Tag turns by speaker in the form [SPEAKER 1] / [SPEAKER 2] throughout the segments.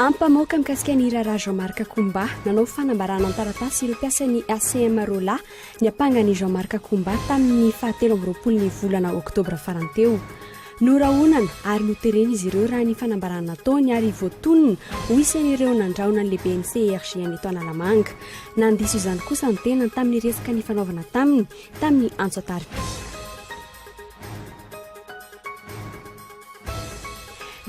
[SPEAKER 1] Ampamoaka mikasika ny raharaha Jean Marc Koumba nanao fanambarana an-taratasy ireo mpiasan'ny ACM Rola niampanga an'i Jean Marc Koumba tamin'ny fahatelo amby roapolon'ny volana Oktobra farany teo. Norahonana ary noterena izy ireo raha ny fanambarana nataony ary voatonona ho isan'ireo nandrahona ny lehiben'ny CRGN eto Analamanga. Nandiso izany kosa ny tenany tamin'ny resaka nifanaovana taminy tamin'ny antso an-tarobia.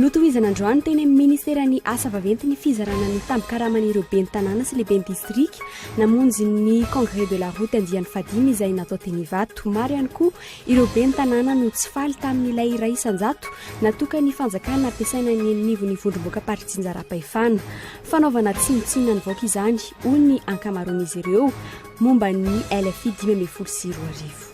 [SPEAKER 1] Notohizana androany teny amin'ny Ministeran'ny Asa Vaventy ny fizarana ny tambin-karaman'ireo ben'ny tanàna sy lehiben'ny distrika namonjy ny Congrès de la Route andiany fahadimy izay natao teny Ivato. Maro ihany koa Ireo ben'ny tanàna no tsy faly tamin'ilay iray isan-jato natokan'ny fanjakana hampiasaina eny anivon'ny vondrom-boakam-paritsinjaram-pahefana. Fanaovana tsinontsinona ny vaoka izany, hoy ny ankamaroan'izy ireo momba ny LFI dimy ambin'ny folo sy roa arivo.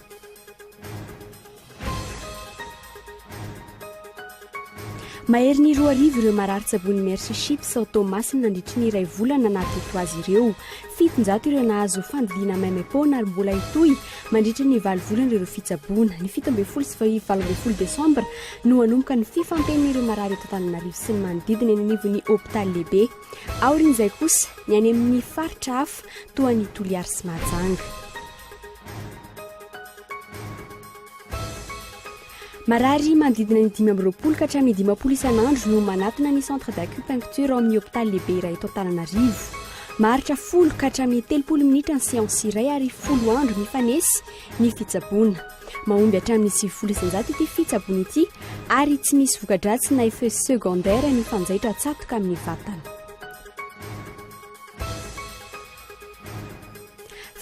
[SPEAKER 1] Maherin'ny roa arivo ireo marary tsabon'ny Mercy Ships ao Toamasina nandritry ny iray volana naha-teto azy ireo. Fitonjato ireo nahazo fandidiana maimaim-poana ary mbola hitohy mandritry ny valo volana ireo fitsaboana. Ny fito ambin'ny folo sy valo ambin'ny folo desambra no hanomboka ny fifantenana ireo marary eto Antananarivo sy ny manodidina eny anivon'ny hopitaly lehibe. Aorian'izay kosa, ny any amin'ny faritra hafa toa an'i Toliary sy Mahajanga. Marary manodidina ny dimy amby roapolo ka hatramin'ny dimampolo isan'andro no manatona ny centre d'acupuncture ao amin'ny hopitaly lehibe iray eto Antananarivo. Maharitra folo ka hatramin'ny telopolo minitra ny séance iray ary folo andro mifanesy ny fitsaboana. Mahomby hatramin'ny sivifolo isanjato ity fitsaboana ity ary tsy misy vokadratsy na effet secondaire ny fanjaitra tsatoka amin'ny vatana.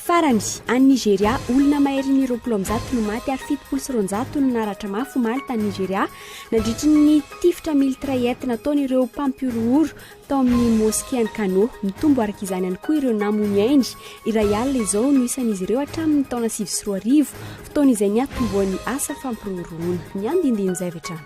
[SPEAKER 1] Farany, any Nigeria, olona mahery ny roapolo amby zato no maty ary fitopolo sy roanjato no naratra mafy omaly tany Nigeria nandritry ny tifitra miltraet nataony ireo mpampihorohoro tao amin'ny moske any Kano. Mitombo araka izany ihany koa ireo namoy ainy. Iray alina izao no isan'izy ireo hatramin'ny taona sivy sy roa arivo, fotoana izay niatombohan'ny asa fampirorohoroana. Ny andindinin'izay avy hatrany.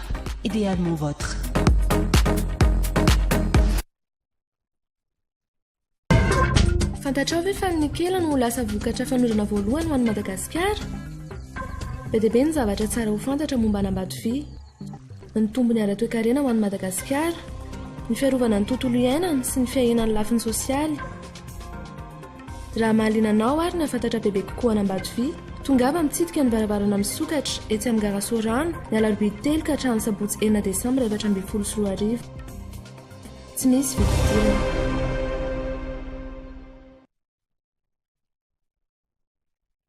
[SPEAKER 2] Idéalement votre.
[SPEAKER 3] Fantatrao ve fa ny nikela no ho lasa vokatra fanondrona voalohany ho an'i Madagasikara? Be dia be ny zavatra tsara ho fantatra momba an'Ambatovia. Ny tombony ara-toekarena ho an'i Madagasikara, ny fiarovana ny tontolo iainana sy ny fiahiana ny lafiny sosialy. Raha mahaliana anao ary nahafantatra bebe kokoa an'Ambatovia, tongava mitsidika ny varavarana misokatra, etsy amin'ny gara Sorano, ny alarobia telo ka hatramin'ny sabotsy enina desambra efatra ambin'ny folo sy roa arivo. Tsy misy vidim-pidirana.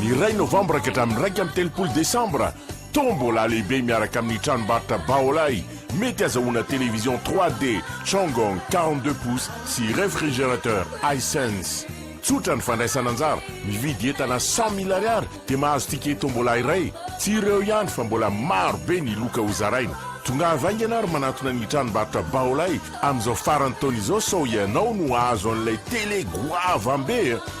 [SPEAKER 4] Ny iray novambra ka hatramin'ny iraika amby telopolo desambra, Tombola lehibe miaraka amin'ny tranombarotra Baolai, mety hazahoana télévision 3D Changong quarante deux pouces sy réfrigérateur Hisense. Tsotra ny fandraisana anjara, mividy entana cent mille ariary dia mahazo ticket Tombola iray. Tsy ireo ihany fa mbola maro be ny loka hozaraina. Tongava haingana ary manantona ny tranombarotra Baolai amin'izao faran'ny taona izao sao ianao no hahazo an'ilay télé goavambe a!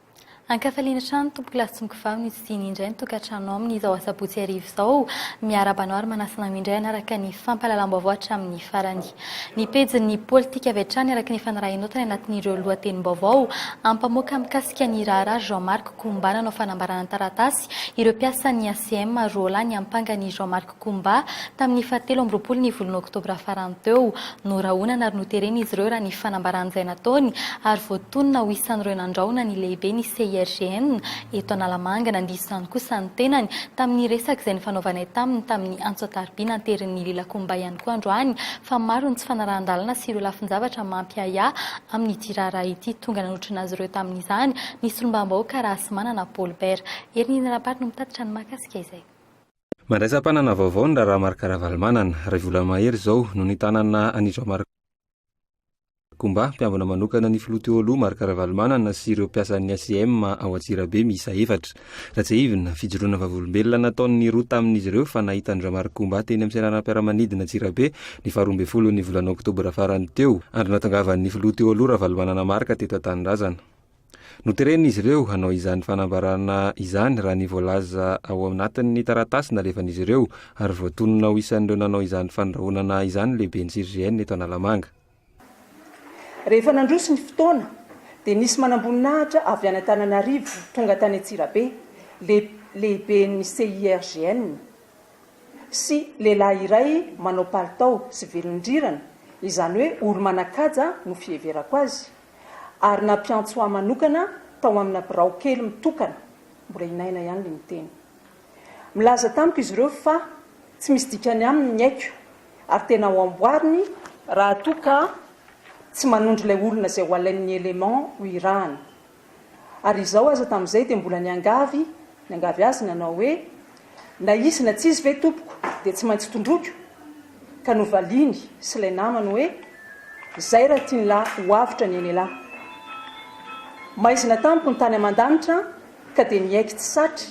[SPEAKER 5] Ankafaliana hatrany tompoko Lasongo Vavy ny hodidiany indray ny tokantrano aminy izao asabotsy hariva izao. Miarahaba anao ary manasana anao indray hanaraka ny fampahalalam-baovao hatramin'ny farany. Ny pejin'ny politika avy hatrany araka ny fanarahinao tany anatin'ireo lohatenim-baovao ampamoaka mikasika ny raharaha Jean Marc Koumba nanao fanambarana an-taratasy ireo mpiasan'ny ACM roalahy niampanga an'i Jean Marc Kumba, tamin'ny fahatelo amby roapolo ny volana oktobra farany teo. Norahonana ary noterena izy ireo raha ny fanambaran'izay nataony ary voatonona ho isan'ireo nandrahona ny lehibe ny CIRGN eto Analamanga. Nandiso izany kosa ny tenany tamin'ny resaka izay nifanaovanay taminy tamin'ny antso an-tarobia nanterin'i Lila Kumba ihany koa androany fa maro ny tsy fanarahan-dalana sy ireo lafin-javatra mampiahiahy amin'ity raharaha ity. Tonga nanotrona azy ireo tamin'izany ny solombavambahoaka Rahasimanana Paulbert. Herin'ny Rampart no mitatitra ny mahakasika izay. Mandraisam-panana
[SPEAKER 6] vaovao ny raharaha Marc Ravalomanana. Iray volana mahery izao no nitanana an'i Jean Marc Combat, mpiambina manokana ny filoha teo aloha Marc Ravalomanana sy ireo mpiasan'ny ACM ao Antsirabe miisa efatra. Raha tsiahivina, fijoroana vavolombelona nataon'ny roa tamin'izy ireo fa nahitan-dRa Marc Combat teny amin'ny seranam-piaramanidina Antsirabe ny faharoa ambin'ny folon'ny volana oktobra farany teo, andro nahatongavan'ny filoha teo aloha Ravalomanana Marc teto an-tanindrazana. Noteren'izy ireo hanao izany fanambarana izany raha ny voalaza ao anatin'ny taratasy nalefan'izy ireo ary voatonona ho isan'ireo nanao izany fandrahonana izany ny lehiben'ny CGN eto Analamanga.
[SPEAKER 7] Rehefa nandroso ny fotoana dia nisy manamboninahitra avy any Antananarivo tonga tany Antsirabe, le lehiben'ny CIRGN sy lehilahy iray manao palitao sy velondrirana, izany hoe olo-manan-kaja no fiheverako azy, ary nampiantso ahy manokana tao amina birao kely mitokana, mbola i Naina ihany no niteny. Milaza tamiko izy ireo fa tsy misy dikany aminy ny aiko ary tena ho amboariny, raha toa ka tsy manondro ilay olona izay ho alain'ny élément ho irahana, ary izaho aza tamin'izay dia mbola niangavy niangavy azy nanao hoe, Na izy na tsy izy ve tompoko dia tsy maintsy tondroiko? Ka novaliany sy ilay namany hoe, Izay raha tian'lah ho avotra ny aina'ilah. Maizina tamiko ny tany aman-danitra an, ka dia niaiky tsy satry,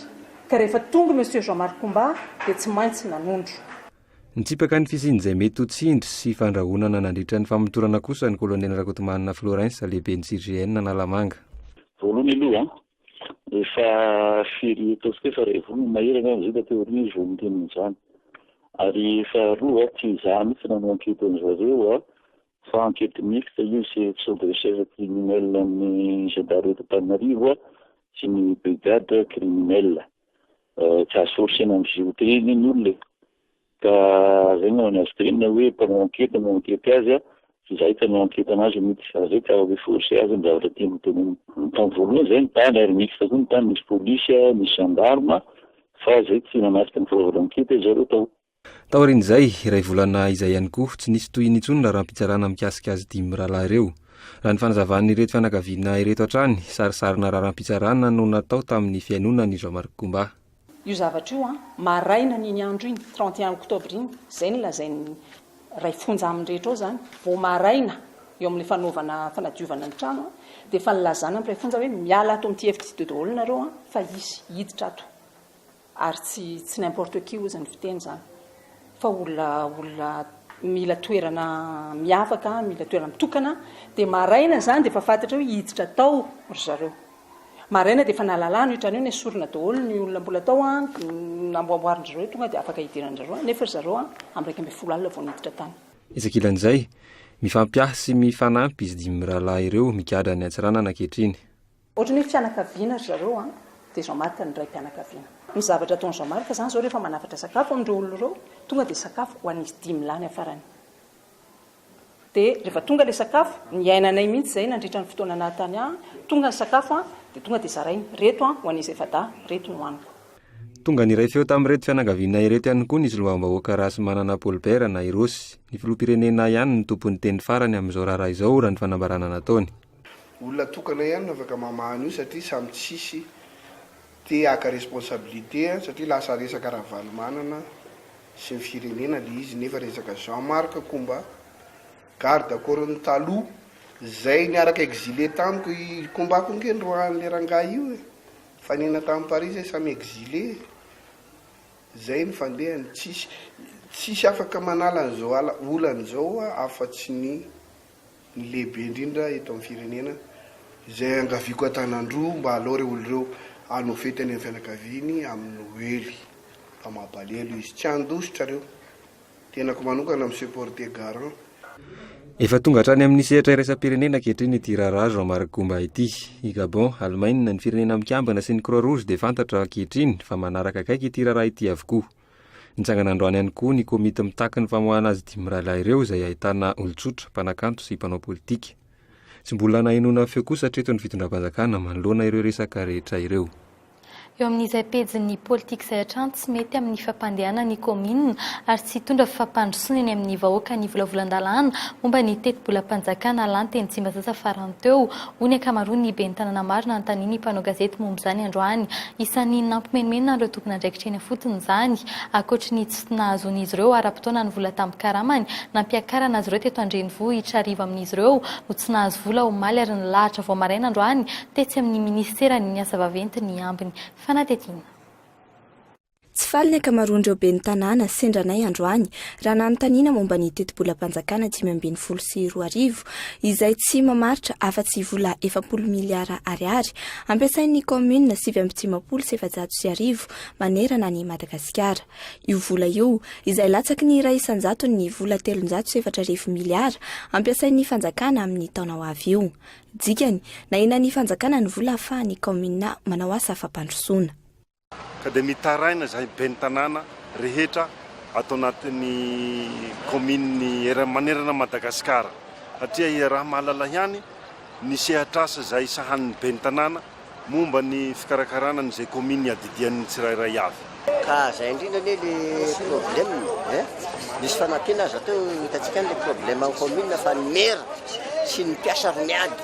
[SPEAKER 7] ka rehefa tongy Monsieur Jean Marc Comba dia tsy maintsy nanondro. Nitsipaka
[SPEAKER 6] ny fisian'izay mety ho tsindry sy fandrahonana nandritra ny famotorana kosa ny Kolonely Rakotomanana Florens, lehiben'ny CGN Analamanga. Voalohany aloha,
[SPEAKER 8] Efa firy ataontsika efa iray volana mahery angamba izay taty aoriana izy vao niteny an'izany. Ary efa roa, tsy izaho mihitsy nanao ankety an'i zareo fa ankety mixte io sy sur des recherches criminelles an'ny gendarme eto Antananarivo sy ny brigade criminelle. Tsy azo forcena mizohy teny ny olona e. Ka zay no any azy green hoe mpanao ankety no ankety azy a, tsy zahay ka no ankety anazy mitsy fa zay ka hoe force azy ny zavatra tiany tonony. Tam voalohany zay ny tany ary mixte koa ny tany misy police a, misy gendarme fa zay tsy nanasitra ny fanaovana ankety azy zareo tao. Taorian'izay,
[SPEAKER 6] iray volana izay ihany koa, tsy nisy tohiny intsony ny raharaham-pitsarana mikasika azy dimy mirahalahy ireo. Raha ny fanazavan'ireto fianakaviana ireto hatrany, sarisarina raharaham-pitsarana no natao tamin'ny fihainoana an'i Jean-Marc Combat. Io zavatra io
[SPEAKER 7] an, maraina n'iny andro iny, trente et un octobre iny, izay no lazain'ny ray fonja amin'ny rehetra ao izany, vao maraina eo amin'ilay fanaovana fanadiovana ny trano an, dia efa nilazana amin'ny ray fonja hoe miala ato amin'ity efitra ity daholo nareo an, fa hisy hiditra ato, ary tsy tsy n'importe qui hozy ny fiteny izany, fa olona olona mila toerana miavaka, mila toerana mitokana, dia maraina izany dia efa fantatra hoe hiditra tao ry zareo. Maraina dia efa nalalana io trano io, nesorina daholo ny olona mbola tao an, namboamboarin-dry zareo tonga dia afaka hidiran-dry zareo any, nefa ry zareo an, amin'ny iraika ambin'ny folo alina vao niditra tany. Etsy ankilan'izay,
[SPEAKER 6] mifampiahy sy mifanampy izy dimy mirahalahy ireo migadra any Antsiranana ankehitriny. Ohatran'ny hoe
[SPEAKER 7] fianakaviana ry zareo an, dia Jean Marc no raim-pianakaviana. Ny zavatra ataon'i Jean Marc izany izao rehefa manafatra sakafo amin'ireo olona ireo, tonga dia sakafo ho an'izy dimy lahy ny afarany. Dia rehefa tonga ilay sakafo, niainanay mihitsy izay nandritra ny fotoana naha tany ahy, tonga ny sakafo dia tonga dia zaraina, ireto ho an'izy efa-dahy, ireto no haniko. Tonga niray
[SPEAKER 6] feo tamin'ireto fianakaviana ireto ihany koa ny solombavambahoaka Rahasimanana Paul Bert na i Rossy, ny filoham-pirenena ihany no tompon'ny teny farany amin'izao raharaha izao raha ny fanambarana nataony. Olona
[SPEAKER 9] tokana ihany no afaka mamaha an'io satria samy tsisy te haka responsabilité satria lasa resaka Ravalomanana sy ny firenena le izy nefa resaka Jean Marc ko mba garde corps ny taloha zay niaraka exilé tamiko i combat ko nge noroahan'le rangahy io e nifanena tamy Paris zay samy exilé e zay ny fandehany tsisy tsisy afaka manala an'izao ala olana izao afa tsy ny ny lehibe indrindra eto amin'ny firenena izay angaviako an-tanan-droa mba alao ireo olona ireo hanao fety any amin'ny fianakaviany amin'ny noely fa mampalelo izy tsy handositra ireo tenako manokana mi supporter garant Efa
[SPEAKER 6] tonga hatrany amin'ny sehatra iraisam-pirenena ankehitriny ity raharaha Jean Marc Goumba ity. I Gabon, Alemaina, ny Firenena Mikambana sy ny Croix Rouge dia fantatra ankehitriny fa manaraka akaiky ity raharaha ity avokoa. Nitsangana androany ihany koa ny komity mitaky ny famoahana azy dimy mirahalahy ireo izay ahitana olon-tsotra, mpanakanto sy mpanao politika. Tsy mbola nahenoana feo kosa hatreto ny fitondram-panjakana manoloana ireo resaka rehetra ireo. Eo amin'izay
[SPEAKER 5] pejin'ny politika izay hatrany tsy mety amin'ny fampandehanana ny kaominina ary tsy hitondra fampandrosoana eny amin'ny vahoaka ny volavolan-dalàna momba ny tetibolam-panjakana lanty eny Tsimbazaza farany teo, hoy ny ankamaroan'ny ben'ny tanàna maro nanontanian'ny mpanao gazety momba izany androany. Isan'ny nampimenomenona an'ireo tompon'andraikitra eny ifotony izany. Ankoatry ny tsy nahazoan'izy ireo ara-potoana ny vola tambin-karamany nampiakarana azy ireo teto an-drenivohitra, arivo amin'izy ireo no tsy nahazo vola omaly ary nilahatra vao maraina androany tetsy amin'ny minisiteran'ny Asa vaventy ny ambiny fanadihadiana.
[SPEAKER 10] Tsy faly ny ankamaroan'ireo ben'ny tanàna sendra anay androany raha nanontaniana momba ny tetibolam-panjakana dimy ambin'ny folo sy roa arivo izay tsy mamaritra afa-tsy vola efapolo miliara ariary ampiasain'ny kaominina sivy amby dimampolo sy efajato sy arivo manerana an'i Madagasikara. Io vola io, izay latsaky ny iray isan-jaton'ny vola telonjato sy efatra arivo miliara ampiasain'ny fanjakana amin'ny taona ho avy io. Dikany, nahinan'ny fanjakana ny vola ahafahan'ny kaominina manao asa fampandrosoana. ka dia
[SPEAKER 11] mitaraina izay ben'ny tanàna rehetra ato anatin'ny kaomininy manerana an'i Madagasikara satria iaraha-mahalala ihany ny sehatr'asa izay sahanin'ny ben'ny tanàna momba ny fikarakarana an'izay kaominina iadidian'ny tsirairay avy. Ka izay indrindra
[SPEAKER 12] anie ilay problème eh! Misy fanampiana aza teo, hitantsika any ilay problème an'ny kaominina fa ny maire sy ny mpiasa ro miady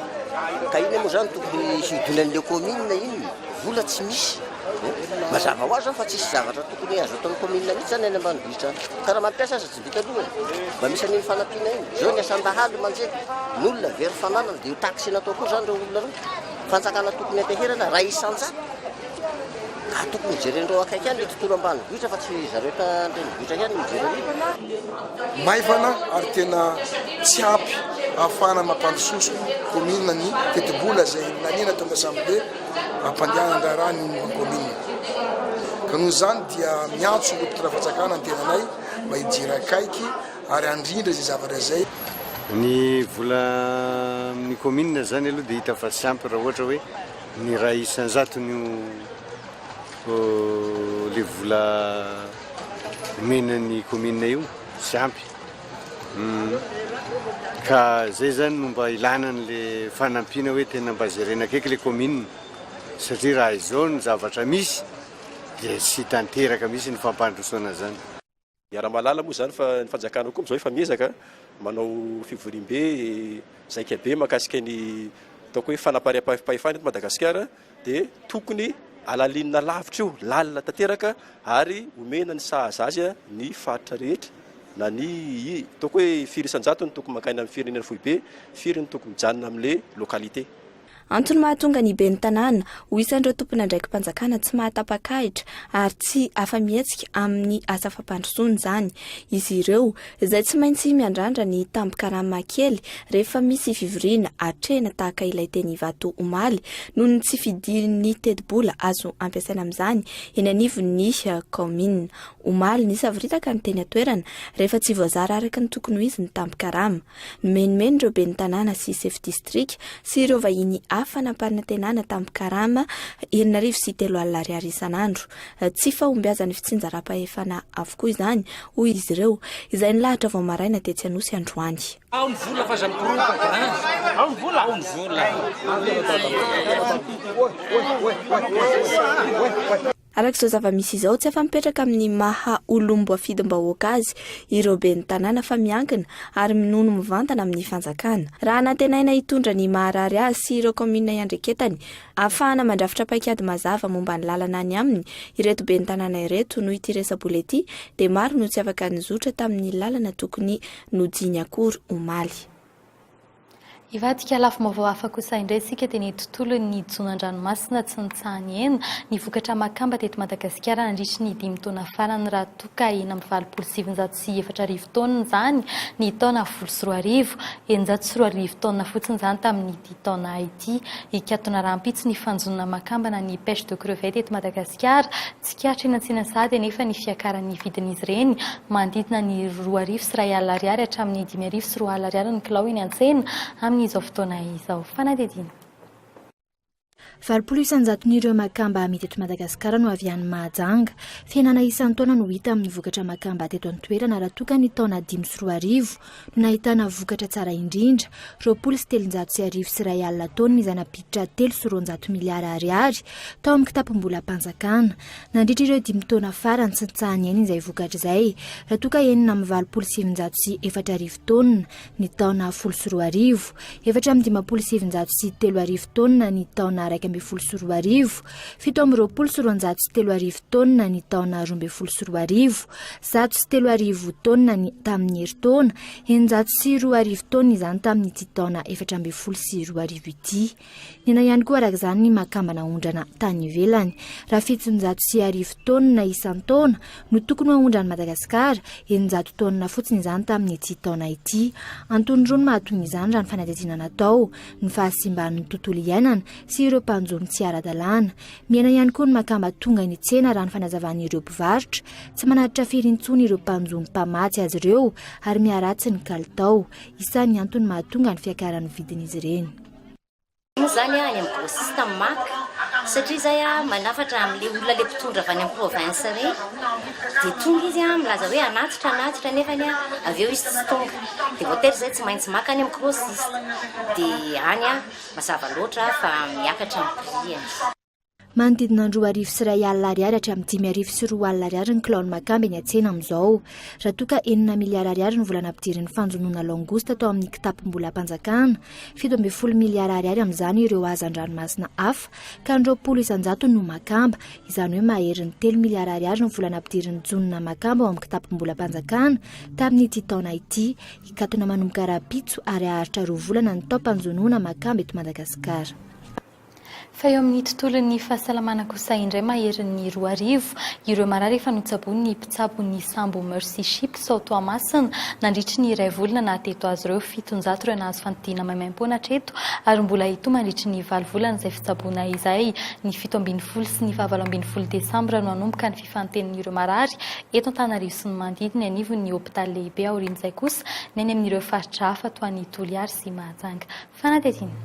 [SPEAKER 12] ka inona moa izany tokony hidonan'ilay kaominina inona? Vola tsy misy eh, mazava ho azy zany fa tsisy zavatra tokony azo ataon'ny commune mihitsy zany any ambanivohitra any, ka raha mampiasa aza tsy vita loha eh, mba misy an'iny fanampiana iny, zao ny asan-dahalo manjery n'olona very fananana, de io taxe natao koa zany reo olona reo, fanjakana tokony ateherana ray isan-jato, ka tokony hojeren'reo akaiky any le tontolo ambanivohitra fa tsy zareo eto an-drenivohitra ihany no mijere an'io.
[SPEAKER 13] maivana ary tena tsy ampy ahafahana mampandrososo commune ny tetibola izay naniana tao amin'ny assemblée hampandehanana ny raharahan'ny ny commune ka noho izany dia miantso ireo mpitondra fanjakana ny tenanay mba hijery akaiky ary handrindra izay zavatra izay Ny
[SPEAKER 14] vola amin'ny commune izany aloha dia hita fa tsy ampy raha ohatra hoe ny iray isan-jatony io ilay vola omena ny commune io tsy ampy ka zay zany no mba ilana an'le fanampiana hoe tena mba jerena akaiky le commune satria raha izao ny zavatra misy dia tsy tanteraka misy ny fampandrosoana zany. Miara-mahalala
[SPEAKER 15] moa izany fa ny fanjakana koa amin'izao efa miezaka manao fivoriambe, zaikabe mahakasika ny ataoko hoe fanapariapaifahefana eto Madagasikara. dia tokony alalinina lavitra io, lalina tanteraka ary omena ny sahaza azy ny faritra rehetra na ny ataoko hoe firy isan-jato no tokony mankaina amin'ny firenena foibe, firy no tokony mijanona amin'ilay localité. Antony
[SPEAKER 10] mahatonga ny ben'ny tanàna ho isan'ireo tompon'andraiki-panjakana tsy mahatapakahitra ary tsy afa-mihetsika amin'ny asa fampandrosoana izany izy ireo izay tsy maintsy miandrandra ny tambin-karama kely rehefa misy fivoriana atrehina tahaka ilay teny Ivato omaly, noho ny tsy fidirin'ny tetibola azo ampiasaina amin'izany eny anivon'ny kaominina. Omaly, nisavoritaka ny teny an-toerana rehefa tsy voazara araka ny tokony ho izy ny tambin-karama. Nomenomen' ireo ben'ny tanàna sy sefo distrika sy ireo vahiny hafa nampanantenana tambin-karama enina arivo sy telo alina ariary isan'andro. Tsy fahombiazan'ny fitsinjaram-pahefana avokoa izany, hoy izy ireo, izay nilahatra vao maraina tetsy Anosy androany. Ao ny vola fa aza mikororoka an! Ao ny vola! Ao ny vola! Araka izao zava-misy izao, tsy afa-mipetraka amin'ny maha olom-boafidim-bahoaka azy ireo ben'ny tanàna fa miankina ary minono mivantana amin'ny fanjakana. Raha nantenaina hitondra ny maharary azy sy ireo kaominina iandreketany Ahafahana mandrafitra paikady mazava momba ny lalana any aminy ireto ben'ny tanàna ireto noho ity resa-bola ity dia maro no tsy afaka nizotra tamin'ny lalana tokony nodiany akory omaly.
[SPEAKER 5] Hivadika lafim-baovao hafa kosa indray isika dia ny tontolon'ny hijono an-dranomasina tsy nitsaha-nihena ny vokatra makamba teto Madagasikara nandritry ny dimy taona farany raha toa ka enina amby valopolo sy sivinjato sy sy efatra arivo taonina izany ny taona folo sy roa arivo, eninjato sy roa arivo taonina fotsiny izany tamin'ity taona ity. Hikatona rahampitso ny fanjonoana makambana ny pêche de crevettes eto Madagasikara. Tsikaritra eny Antsinantsady anefa ny fiakaran'ny vidin'izy ireny, manodidina ny roa arivo sy iray alina ariary hatramin'ny dimy arivo sy roa alina ariary ny kilao eny an-tsena amin'izao fotoana izao. Fanadihadiana. Valopolo
[SPEAKER 16] isan-jaton'ireo makamba amidy eto Madagasikara no avy any Mahajanga. Fihenana isan-taona no hita amin'ny vokatra makamba teto an-toerana raha toa ka ny taona dimy sy roa arivo no nahitana vokatra tsara indrindra, roapolo sy telonjato sy arivo sy iray alina taonina izay nampiditra telo sy roanjato miliara ariary tao amin'ny kitapom-bolam-panjakana. Nandritra ireo dimy taona farany tsy nitsaha-niaina izay vokatra izay raha toa ka enina amby valopolo sy sivinjato sy efatra arivo taonina ny taona folo sy roa arivo, efatra amby dimampolo sy sivinjato sy telo arivo taonina ny taona iraika ambin'ny folo sy roa arivo, fito amby roapolo sy roanjato sy telo arivo taonina ny taona roa ambin'ny folo sy roa arivo, zato sy telo arivo taonina ny tamin'ny herintaona, eninjato sy roa arivo taonina izany tamin'ity taona efatra ambin'ny folo sy roa arivo ity. Nena ihany koa araka izany ny makambana aondrana tany ivelany. Raha fitonjato sy arivo taonina isan-taona no tokony ho aondran'i Madagasikara, eninjato taonina fotsiny izany tamin'ity taona ity. Antony roa no mahatonga izany raha ny fanadihadiana natao, ny fahasimban'ny tontolo iainana sy ireo mpanjono tsy ara-dalàna. Mihena ihany koa ny makamba tonga eny an-tsena raha ny fanazavan'ireo mpivarotra. Tsy manatitra firy intsony ireo mpanjono mpamatsy azy ireo ary miharatsy ny kalitao. Isan'ny antony mahatonga ny fiakaran'ny vidin'izy ireny. moa zany
[SPEAKER 17] any amin'ny grossiste maka satria zay a manafatra amle olona le mpitondra avy any amin'ny province reny dia tonga izy a milaza hoe anatitra anatitra nefa ny a avy eo izy tsy tonga dia voatery zay tsy maintsy maka any amin'ny grossiste dia any a mazava loatra fa miakatra ny prix e Manodidina
[SPEAKER 16] ny roa arivo sy iray alina ariary hatramin'ny dimy arivo sy roa alina ariary ny kilaon'ny makamba eny an-tsena amin'izao. Raha toa ka enina miliara ariary ny vola nampidirin'ny fanjonoana langouste tao amin'ny kitapom-bolam-panjakana, fito ambin'ny folo miliara ariary amin'izany ireo hazan-dranomasina hafa, ka ny roapolo isan-jatony no makamba. Izany hoe maherin'ny telo miliara ariary ny vola nampidirin'ny jonona makamba ao amin'ny kitapom-bolam-panjakana tamin'ity taona ity. Hikatona manomboka rahampitso ary haharitra roa volana ny taom-panjonoana makamba eto Madagasikara.
[SPEAKER 5] Fa eo amin'ny tontolon'ny fahasalamana kosa indray maherin'ny roa arivo ireo marary efa notsaboin'ny mpitsabo ny sambo Mercy Ship sao Toamasina nandritry ny iray volana naha teto azy ireo fitonjato ireo nahazo fandidiana maimaimpoana hatreto ary mbola hitohy mandritry ny valo volana izay fitsaboana izay ny fito ambin'ny folo sy ny fahavalo ambin'ny folo desambra no hanomboka ny fifantenin'ireo marary eto Antananarivo sy ny manodidina anivon'ny hopitaly lehibe aorian'izay kosa ny any amin'ireo faritra hafa toa an'i Toliary sy Mahajanga fanadihadiana.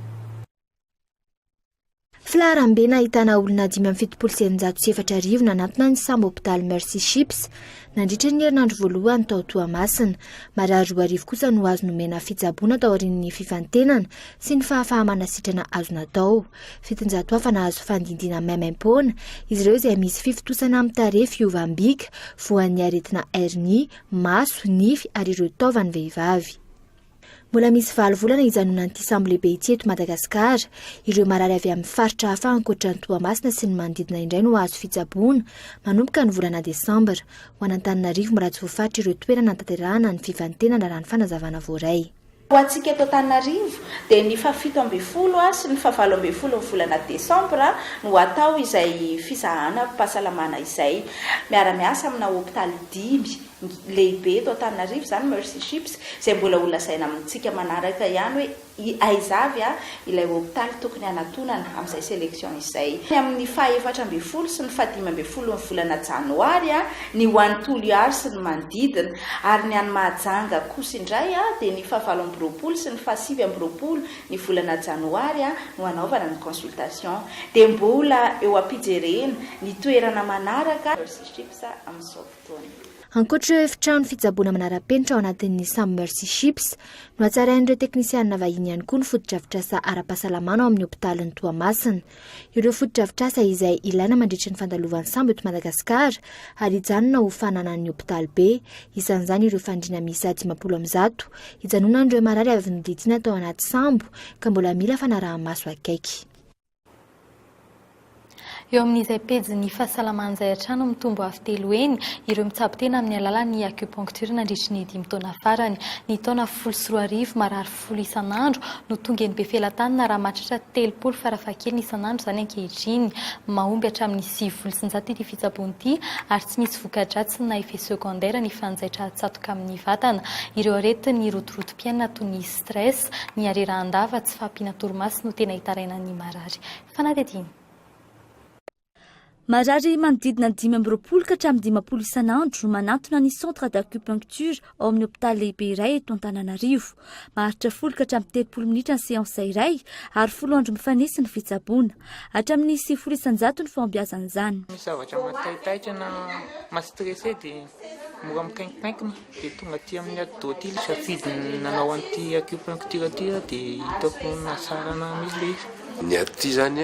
[SPEAKER 16] Filaharambe nahitana olona dimy amby fitopolo sy eninjato sy efatra arivo nanantona ny sambo hopitaly Mercy Ships nandritra ny herinandro voalohany tao Toamasina. Marary roa arivo kosa no azo nomena fitsaboana taorian'ny fifantenana sy ny fahafaha-manasitrana azo natao. Fitonjato hafa nahazo fandidiana maimaim-poana, izy ireo izay misy fifitosana amin'ny tarehy, fiovam-bika, voan'ny aretina hernie, maso, nify ary ireo taovan'ny vehivavy. Mbola misy valo volana hijanonan'ity sambo lehibe ity eto Madagasikara. Ireo marary avy amin'ny faritra hafa ankoatra ny Toamasina sy ny manodidina indray no hahazo fitsaboana, manomboka ny volana desambra. Ho an'Antananarivo mbola tsy voafaritra ireo toerana hanatanterahana ny fifantenana raha ny fanazavana voaray. Ho antsika eto
[SPEAKER 18] Antananarivo dia ny fahafito ambin'ny folo sy ny fahavalo ambin'ny folon'ny volana desambra no hatao izay fizahanam-pahasalamana izay, miara-miasa amina hopitaly dimy. lehibe eto Antananarivo izany Mercy Ships izay mbola ho lazaina amintsika manaraka ihany hoe aiza avy ilay hopitaly tokony hanatonana amin'izay selection izay. Ny amin'ny faha efatra ambin'ny folo sy ny faha dimy ambin'ny folon'ny volana janoary ny ho an'i Toliary sy ny manodidina ary ny any Mahajanga kosa indray dia ny faha valo amby roapolo sy ny faha sivy amby roapolo ny volana janoary no hanaovana ny consultation dia mbola eo ampijerena ny toerana manaraka Mercy Ships amin'izao taona. Ankoatra ireo efitrano
[SPEAKER 16] fitsaboana manara-penitra ao anatin'ny Some Mercy Ships, nohatsarain'ireo teknisianina vahiny ihany koa ny fotodrafitrasa ara-pahasalamana ao amin'ny hopitalin'i Toamasina. Ireo fotodrafitrasa izay ilaina mandritra ny fandalovan'ny sambo eto Madagasikara ary hijanona ho fananan'ny hopitaly be, isan'izany ireo fandriana miisa dimampolo amby zato hijanonan'ireo marary avy noditsiana tao anaty sambo ka mbola mila fanaraha-maso akaiky.
[SPEAKER 5] Eo amin'izay pejin'ny fahasalamana izay hatrany mitombo avo telo heny ireo mitsabo tena amin'ny alalan'ny acupuncture nandritry ny dimy taona farany. Ny taona folo sy roa arivo, marary folo isan'andro no tonga eny Befelatanana raha mahatratra telopolo farafahakeliny isan'andro izany ankehitriny. Mahomby hatramin'ny sivifolo sy zato ity fitsaboana ity ary tsy misy voka-dratsiny na effet secondaire ny fanjaitra atsatoka amin'ny vatana ireo aretin'ny rotorotom-piainana toy ny stress, ny harerahan-dava, tsy fahampiana torimaso no tena hitaraina ny marary. Fanadihadiana.
[SPEAKER 19] Marary manodidina ny dimy amby roapolo ka hatramin'ny dimampolo isan'andro no manantona ny Centre d'Acupuncture ao amin'ny hopitaly lehibe iray eto Antananarivo. Maharitra folo ka hatramin'ny telopolo minitra ny seansa iray ary folo andro mifanesy ny fitsaboana. Hatramin'ny sivifolo isan-jato ny fahombiazan'izany. Misy zavatra
[SPEAKER 20] mataitaitra na ma-stressé dia mora mikainkinkainkina. Dia tonga aty amin'ny atidoha aty ilay safidy nanao an'ity acupuncture ity aho dia hitako nahatsara anah mihitsy ilay izy. Ny aty izany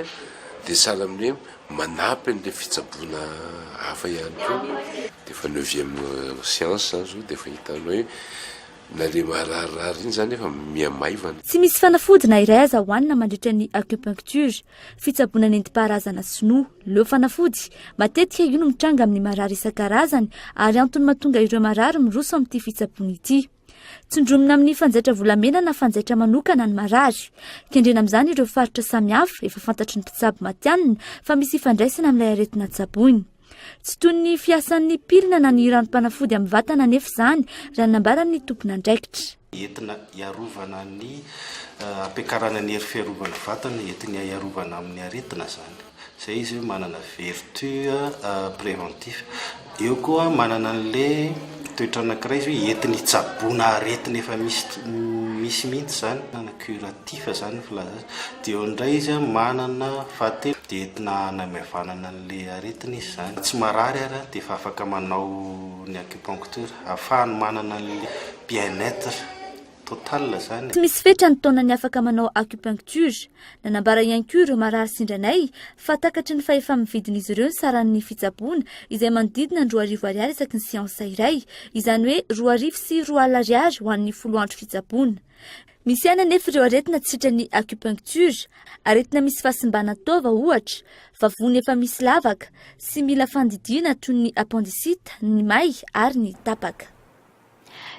[SPEAKER 21] dia sahala amin'ny hoe manampy an'ilay fitsaboana hafa ihany koa. Dia efa neuvième séance izany izao dia efa hitanao hoe na ilay mararirary iny izany efa miha maivana. Tsy misy fanafody
[SPEAKER 19] na iray aza hohanina mandritra ny acupuncture. fitsaboana nentim-paharazana sinoa. Leo fanafody, matetika io no mitranga amin'ny marary isan-karazany ary antony mahatonga ireo marary miroso amin'ity fitsaboana ity. Tsindromina amin'ny fanjaitra volamena na fanjaitra manokana ny marary. Kendrena amin'izany ireo faritra samihafa efa fantatry ny mpitsabo matianina fa misy ifandraisana amin'ilay aretina tsaboina. Tsy toy ny fiasan'ny pilina na ny ranom-panafody amin'ny vatana anefa izany, raha ny nambaran'ny tompon'andraikitra. Entina
[SPEAKER 22] hiarovana ny hampiakarana ny hery fiarovan'ny vatana, entina hiarovana amin'ny aretina izany. Izay izy hoe manana vertu préventif. Eo koa manana an'ilay toetra anankiray izy hoe entina hitsaboana aretina efa misy misy mihitsy izany, manana curatif izany ny filazana azy. Dia eo indray izy manana fahatelo dia entina hanamaivanana ny. le aretina izy zany. Tsy marary ary dia efa afaka manao ny acupuncture. Ahafahany manana an'ilay bien etre total zany. Tsy misy fetra ny taonany
[SPEAKER 19] afaka manao acupuncture. Nanambara ihany koa ireo marary sendranay fa takatry ny fahefa-mividin'izy ireo ny saran'ny fitsaboana izay manodidina ny roa arivo ariary isaky ny seansa iray, izany hoe roa arivo sy roa alina ariary ho an'ny folo andro fitsaboana. Misy ihany anefa ireo aretina tsy sitran'ny acupuncture, aretina misy fahasimbana taova ohatra, vavony efa misy lavaka, sy mila fandidiana toy ny appendicite, ny may ary ny tapaka.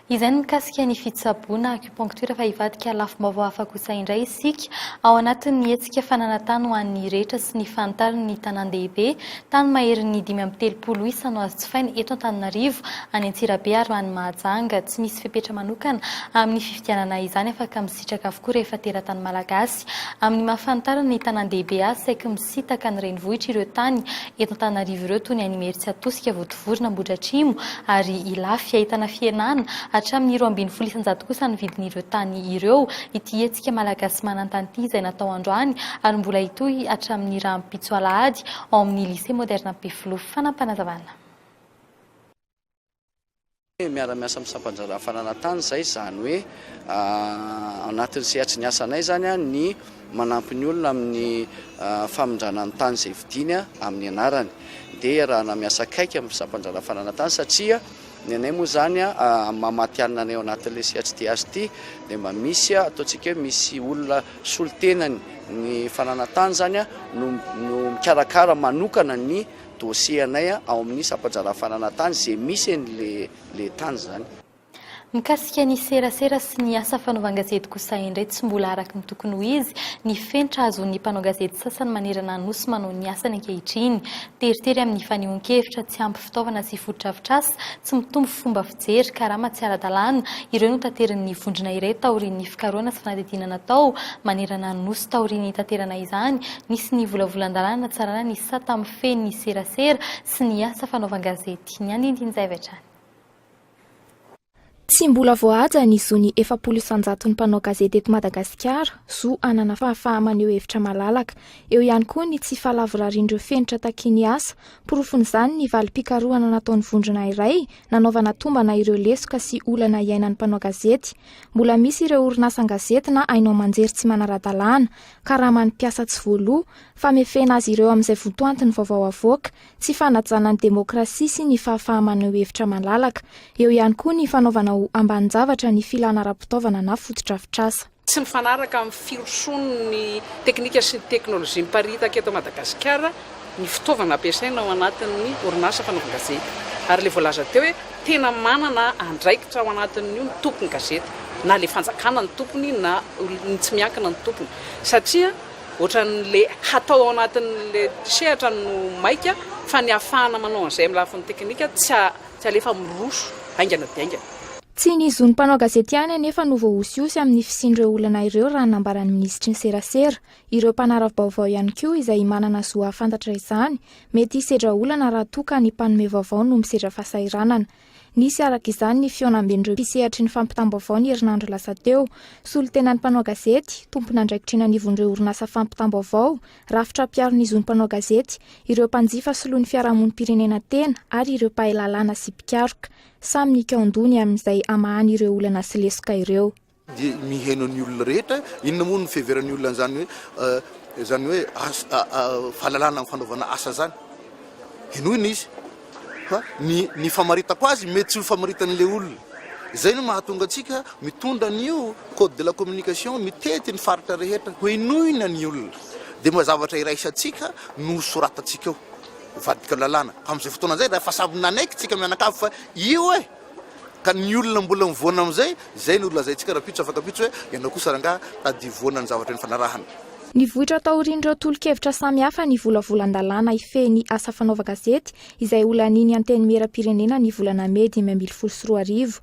[SPEAKER 5] Izay ny mikasika ny fitsaboana acupuncture fa hivadika lafim-baovao hafa kosa indray isika ao anatin'ny hetsika fananantany ho an'ny rehetra sy ny fahantaran'ny tanàn-dehibe Tany maherin'ny dimy amby telopolo isa no azo jifaina eto Antananarivo, any Antsirabe ary any Mahajanga. Tsy misy fepetra manokana amin'ny fifidianana izany afaka misitraka avokoa rehefa teratany Malagasy. Amin'ny maha fanitarana ny tanàn-dehibe azy saiky misitaka ny renivohitra ireo tany eto Antananarivo ireo toy ny any Imeritsiatosika, Votovorona, Ambohidratrimo ary Ilafy. Ahitana fihenana hatramin'ny roa ambin'ny folo isan-jato kosa ny vidin'ireo tany ireo ity hetsika Malagasy manan-tany ity izay natao androany ary mbola hitohy hatramin'ny rahampitso alahady ao amin'ny Lycée Moderne Ampefiloha. Fanapanazavana.
[SPEAKER 3] Miara-miasa amin'ny sampandraharaha fananantany izay, izany hoe ao anatin'ny sehatry ny asanay izany ny manampy ny olona amin'ny famindrana ny tany izay vidiany amin'ny anarany. Dia iarahana miasa akaiky amin'ny sampandraharaha fananantany satria ny anay moa izany amin'ny maha matihanina anay ao anatin'ilay sehatry TH ity dia mba misy ataontsika hoe misy olona solontenany ny fananantany izany no no mikarakara manokana ny dossier anay ao amin'ny sampanjara fananantany izay misy any le le tany izany. Mikasika
[SPEAKER 5] ny serasera sy ny asa fanaovan-gazety kosa indray tsy mbola araka ny tokony ho izy ny fenitra azon'ny mpanao gazety sasany manerana Anosy manao ny asany ankehitriny. Teritery amin'ny fanehoan-kevitra, tsy ampy fitaovana sy fotodrafitrasa, tsy mitombo fomba jery, karama tsy ara-dalàna, ireo notaterin'ny vondrona iray taorian'ny fikarohana sy fanadihadiana natao manerana ny Nosy taorian'ny nitaterana izany, nisy ny volavolan-dalàna hanatsarana ny sata mifehy ny serasera sy ny asa fanaovan-gazety. Ny andinindin'izay avy hatrany.
[SPEAKER 10] Tsy mbola voahaja ny zon'ny efapolo isanjaton'ny mpanao gazety eto Madagasikara, zo hanana fahafaha-maneho hevitra malalaka. Eo ihany koa ny tsy fahalavorarian'ireo fenitra takian'ny asa. Porofon'izany ny valim-pikarohana nataon'ny vondrona iray nanaovana tombana ireo lesoka sy olana iainan'ny mpanao gazety. Mbola misy ireo orinasan-gazety na haino aman-jery tsy manara-dalàna, karaman'ny mpiasa tsy voaloa, famefena azy ireo amin'izay votoantin'ny vaovao avoaka, tsy fanajana ny demokrasia sy ny fahafaha-maneho hevitra malalaka. Eo ihany koa ny fanaovana ho ambanin-javatra ny filana ara-pitaovana na fotodrafitrasa. Tsy mifanaraka
[SPEAKER 1] amin'ny firosoan'ny teknika sy ny teknolojia miparitaka eto Madagasikara ny fitaovana ampiasaina ao anatin'ny orinasa fanaovan-gazety. Ary ilay voalaza teo hoe tena manana andraikitra ao anatin'io ny tompon-gazety, na ilay fanjakana no tompony na olona tsy miankina no tompony. Satria ohatran'ilay hatao ao anatin'ilay sehatra no maika fa ny ahafahana manao an'izay amin'ny lafiny teknika tsy alefa miroso haingana dia haingana. Tsy ny zon'ny
[SPEAKER 10] mpanao gazety ihany anefa no voahosihosy amin'ny fisian'ireo olana ireo raha ny nambaran'ny minisitry ny serasera. Ireo mpanara-baovao ihany koa izay manana zo hahafantatra izany, mety hisedra olana raha toa ka ny mpanome vaovao no misedra fahasahiranana. Nisy araka izany ny fihaonamben'ireo mpisehatry ny fampitam-baovao ny herinandro lasa teo. Solontenan'ny mpanao gazety, tompon'andraikitra eny anivon'ireo orinasa fampitam-baovao, rafitra mpiaro ny zon'ny mpanao gazety, ireo mpanjifa soloin'ny fiarahamonim-pirenena tena ary ireo mpahay lalàna sy mpikaroka. Samy nikaon-doha ny amin'izay hamahany ireo olana sy lesoka ireo. Dia miheno ny
[SPEAKER 23] olona rehetra. Inona moa no fiheveran'ny olona an'izany hoe izany hoe fahalalana amin'ny fanaovana asa izany? Henoina izy fa ny ny famaritako azy mety tsy ho famaritan'ilay olona. Izay no mahatonga antsika mitondra an'io code de la communication mitety ny faritra rehetra. Henoina ny olona. Dia mba zavatra iraisantsika no soratantsika ao. Mivadika lalàna amin'izay fotoana izay rehefa samy nanaiky tsika mianakavy fa io e! Ka ny olona mbola mivoana amin'izay, izay no lazaintsika rahampitso afaka ampitso hoe ianao kosa rangahy tadidio voana ny zavatra nifanarahana. Nivoitra
[SPEAKER 10] taorian'ireo tolo-kevitra samihafa ny volavolan-dalàna hifehy ny asa fanaovan-gazety izay ho lanian'ny Antenimieram-pirenena ny volana mey dimy ambin'ny folo sy roa arivo.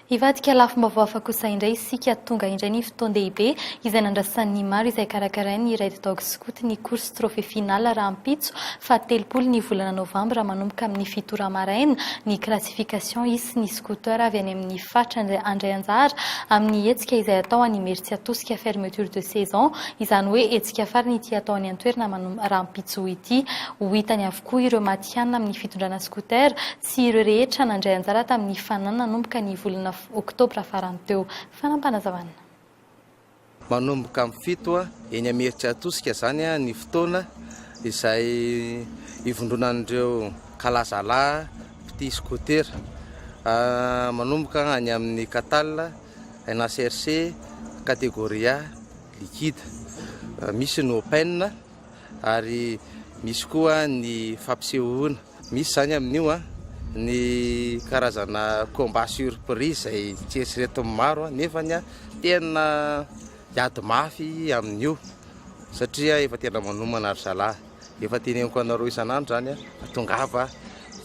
[SPEAKER 5] Hivadika lafim-baovao hafa kosa indray isika, tonga indray ny fotoan-dehibe izay nandrasan'ny maro izay karakarain'ny Red Dog Scout ny course trophée finale rahampitso faha telopolo ny volana novambra manomboka amin'ny fito ora maraina ny classification hisy ny scooter avy any amin'ny faritra handray anjara amin'ny hetsika izay atao any Imerintsiatosika fermeture de saison izany hoe hetsika farany ity atao any an-toerana rahampitso ity ho hitany avokoa ireo Afrikana amin'ny fitondrana scooter sy ireo rehetra nandray anjara tamin'ny fanana nanomboka ny volana oktobra farany teo. Fanampanazavana.
[SPEAKER 2] Manomboka amin'ny fito eny Imerintsiatosika izany ny fotoana izay ivondronan'ireo kalazalahy mpitia scooter. Manomboka any amin'ny Catal, NHRC, Categoria, Liquide. Misy ny Open. ary misy koa ny fampisehoana. Misy izany amin'io ny karazana combat surprise izay tsy eritreretin'ny maro nefa tena hiady mafy amin'io satria efa tena manomana ry zalahy. Efa teneniko anareo isan'andro izany fa tongava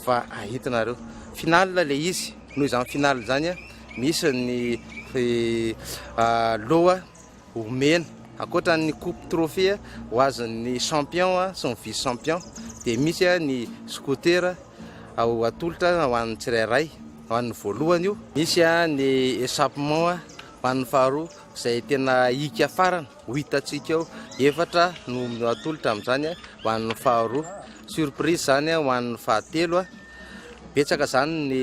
[SPEAKER 2] fa hahita nareo. Finale ilay izy, noho izany finale izany misy ny loha. Omena, ankoatra ny coupe trophée ho azon'ny champion sy ny vice champion dia misy ny scooter atolotra ho an'ny tsirairay, ho an'ny voalohany io, misy ny echapement ho an'ny faharoa izay tena hiaka farany ho hitantsika eo, efatra no atolotra amin'izany ho an'ny faharoa, surprise izany ho an'ny fahatelo, betsaka izany ny.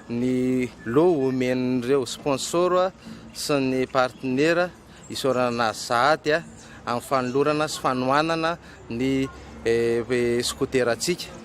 [SPEAKER 2] Ny loha homen'ireo sponsor sy ny partenera isaorana azy sahady amin'ny fanolorana sy fanohanana ny skoterantsika.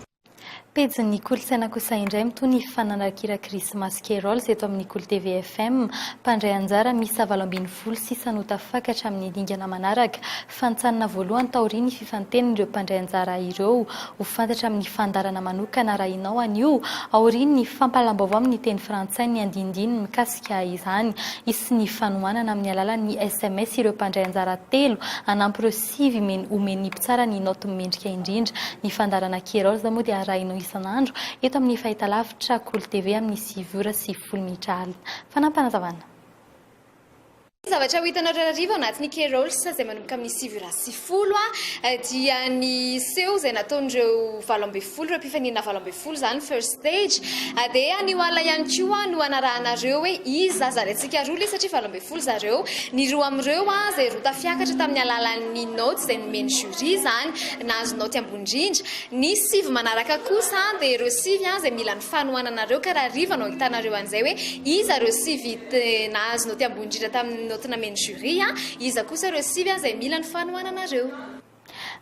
[SPEAKER 5] Pejin'ny kolontsaina kosa indray mitohy ny fananrakira Krismasy Carols eto amin'ny Kolo TV FM. Mpandray anjara miisa valo ambin'ny folo sisa no tafakatra amin'ny dingana manaraka. fa nitsanina voalohany taorian'ny fifantenin'ireo mpandray anjara ireo. Ho fantatra amin'ny fandaharana manokana arahinao anio, aorian'ny fampahalam-baovao amin'ny teny frantsay ny andinindininy mikasika izany. Hisy ny fanohanana amin'ny alalan'ny sms ireo mpandray anjara telo hanampy ireo sivy homen'ny mpitsara ny naoty mendrika indrindra. Ny fandaharana Kerolz moa dia arahinao isan'andro eto amin'ny fahitalavitra Kolo TV amin'ny sivy ora sy folo minitra alina. Fanampinazavana.
[SPEAKER 24] Ny zavatra ho hitanareo hariva ao anatin'ny Kerolsa izay manomboka amin'ny sivy ora sy folo dia ny seho izay nataon'ireo valo ambin'ny folo, ireo mpifaninana valo ambin'ny folo izany, First Stage. Dia anio alina ihany koa no hanarahanareo hoe iza zary antsika roa lie satria valo ambin'ny folo zareo. Ny roa amin'ireo izay roa tafiakatra tamin'ny alalan'ny naoty izay nomen'ny jury izany, nahazo naoty ambony indrindra. Ny sivy manaraka kosa dia ireo sivy izay mila ny fanohananareo ka raha hariva no hahitanareo an'izay hoe iza ireo sivy dia nahazo naoty ambony indrindra tamin'ny naoty namen'ny jury, iza kosa ireo sivy izay mila ny fanohananareo?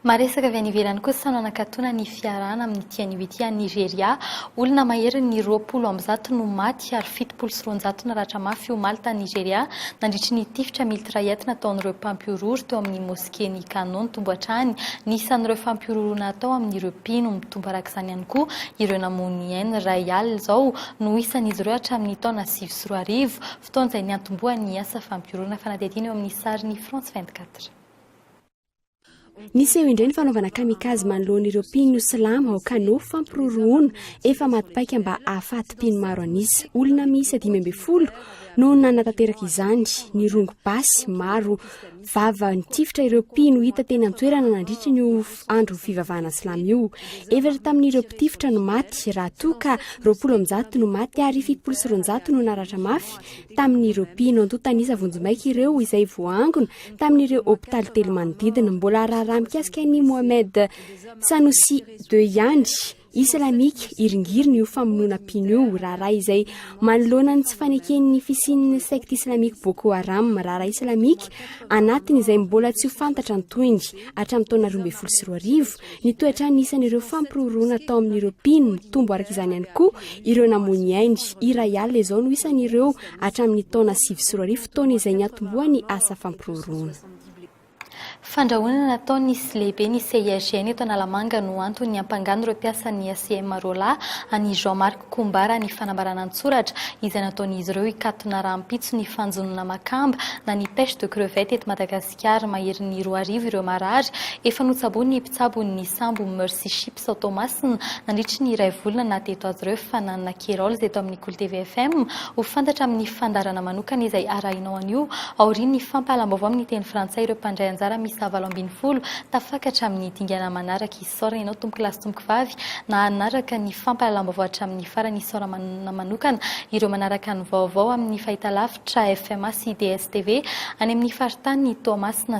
[SPEAKER 5] Maresaka avy any ivelany kosa no anakatona ny fiarahana amin'ity anio ity any Nigeria. Olona maherin'ny roapolo amby zato no maty ary fitopolo sy roanjato naratra mafy omaly tany Nigeria nandritry ny tifitra miltraet nataon'ireo mpampihorohoro teo amin'ny mosquée. Kenny Cannon nitombo hatrany ny isan'ireo fampihorohoroana atao amin'ireo mpino. Mitombo araka izany ihany koa ireo namono ny ainy. Iray alina izao no isan'izy ireo hatramin'ny taona sivy sy roa arivo, fotoana izay niantombohan'ny asa fampihorohoroana, fanadihadiana eo amin'ny sarin'ny France vingt-quatre.
[SPEAKER 8] Niseho indray ny fanaovana kamikaze manoloana ireo mpino silamo ao Kano, fampirorohoana efa maty paika mba hahafaty mpino maro an'isa. Olona miisa dimy ambin'ny folo no nanatanteraka izany, nirongo basy maro. Vava nitifitra ireo mpino hita teny an-toerana nandritra ny andro fivavahana silamo io. Efatra tamin'ireo mpitifitra no maty, raha toa ka roapolo amby zato no maty ary fitopolo sy roanjato no naratra mafy tamin'ireo mpino. Antontan'isa vonjimaika ireo izay voaangona tamin'ireo hopitaly telo manodidina. Mbola raharaha mikasika an'i Mohamed Sanusi ii ihany. Islamika, iringiriny io famonoana mpino io, raharaha izay manoloana ny tsy faneken'ny fisian'ny secte islamika Boko Haram, raharaha islamika anatiny izay mbola tsy ho fantatra ny tohiny. Hatramin'ny taona roa ambin'ny folo sy roa arivo, nitohy hatrany ny isan'ireo fampiroroana atao amin'ireo mpino, nitombo araka izany ihany koa ireo namoy ny ainy. Iray alina izao no isan'ireo hatramin'ny taona sivy sy roa arivo, taona izay niantombohan'ny asa fampiroroana.
[SPEAKER 5] Fandrahonana nataon' ny sy lehiben' ny CIRGN eto Analamanga no antony niampangany ireo mpiasan' ny ACM roalahy an' i Jean Marc Kombara ny fanambarana an-tsoratra izay nataon' izy ireo hikatona rahampitso ny fanjonoana makamba na ny pêche de crevette eto Madagasikara Maherin'ny roa arivo ireo marary efa notsaboin' ny tsabon'ny sambo Mercy Ships ao Toamasina nandritry ny iray volana na teto azy ireo fananana Kerols eto amin'ny Kolo TV FM ho fantatra amin'ny fandaharana manokana izay arahinao anio aorian'ny fampahalam-baovao amin'ny teny frantsay ireo mpandray anjara miisa valo ambin'ny folo tafaka hatramin'ny dingana manaraka isaorana ianao tompokolahy sy tompokovavy nanaraka ny fampahalam-baovao hatramin'ny farany isaorana manokana ireo manaraka ny vaovao amin'ny fahitalavitra FMA sy DSTV any amin'ny faritany Toamasina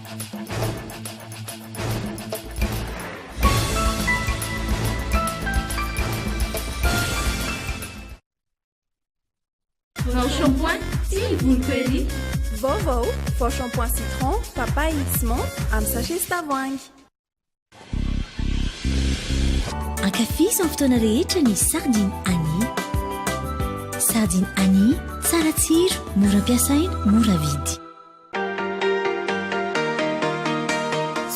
[SPEAKER 4] Vaovao, vao shampoing citron, papaye sy menthe amin'ny sachet sy tavoahangy.
[SPEAKER 6] Ankafizo amin'ny fotoana rehetra ny sardine Annie. Sardine Annie, tsara tsiro, mora ampiasaina, mora vidy.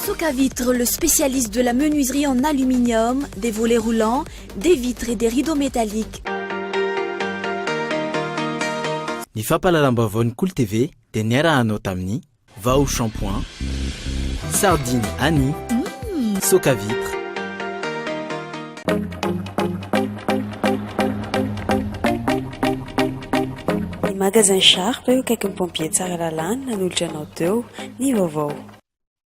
[SPEAKER 7] Socavitre, le spécialiste de la menuiserie en aluminium, des volets roulants, des vitres et des rideaux métalliques.
[SPEAKER 9] Ny fampahalalam-baovaon'ny Kolo TV dia niara-hanao tamin'i. Vao shampoing, sardine Annie, soca vitre.
[SPEAKER 25] Ny magasin Sharp eo akaikin'ny pompier Tsaralalana nanolotra anao teo ny vaovao.